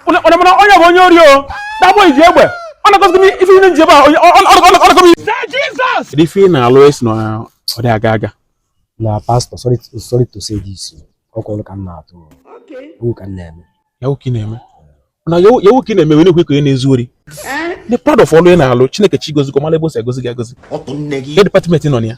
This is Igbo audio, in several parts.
onye bụ onye ori o that boy iji egbe ọ na-akọzi m ife ihe nji ebe a ọnọkọ m isi ife ị na-alụ ị sị na ọ dị aga aga na pastor sorry to say this ọ kwụrụ ka m na-atụ Yahoo ka m na-eme Yahoo ka ị na-eme na Yahoo ka ị na-eme wee na-ekwe ka ị na-ezu ori dị proud of ọlụ ị na-alụ chineke chọ ịgọzi gị ọ mala ebe o si agọzi gị agọzi ebe department ị nọ na ya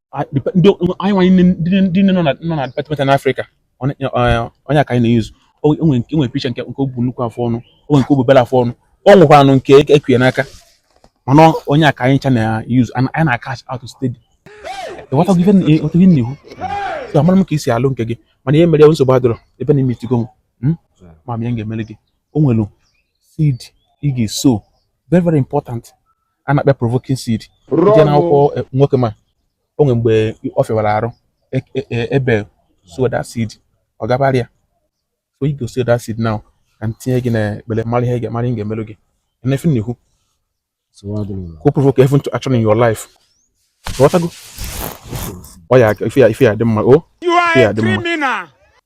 Ah, dep- ndị anyị nwanyị nne- ndị nne- ndị nne nọ na nọ na department na afrịka onye eh, onye a ka anyị na-eyuzu o o nwere nke o nwere picture nke nke o bu nnukwu afọ ọnụ o nwere nke o bu obere afọ ọnụ o nwekwanụ nke e- ekwuye n'aka mana ọ- onye a ka anyị ncha na-eyuzu anyị anyị na-acash out steady ịghọtago ife na- ịghọtago ihe m na-ekwu so amara m ka i si alụ nke gị mana ihe mere ya nsogbu adịrọ ebe na i meetigo m mm? ama m ihe m ga-emere gị o nwere seed ị ga-asow very very important a na-akpọ provoking seed i jee na akwụkwọ e, nwoke ma o nwere mgbe ọ fịwara arụ e, e, Abel sow that seed ọ gabara ya so you go sow that seed now ka m tinye gị na ekpere mara ihe ga mara ihe ga-emerụ gị and if you sow you go provoke heaven to action in your life ị ghọtago oya ife ya dị mma o ife ya dị mma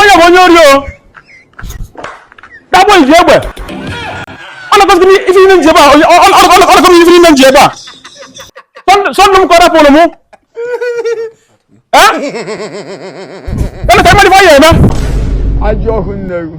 onye bụ onye ori o that boy iji egbe ọ na-akọzi ife ime nji ebe a ọ na-akọzi ife ime nji ebe a sọndụ m ka ọ rapụrụ mụ onye ka ị ma dị ife ya na ajọ nwa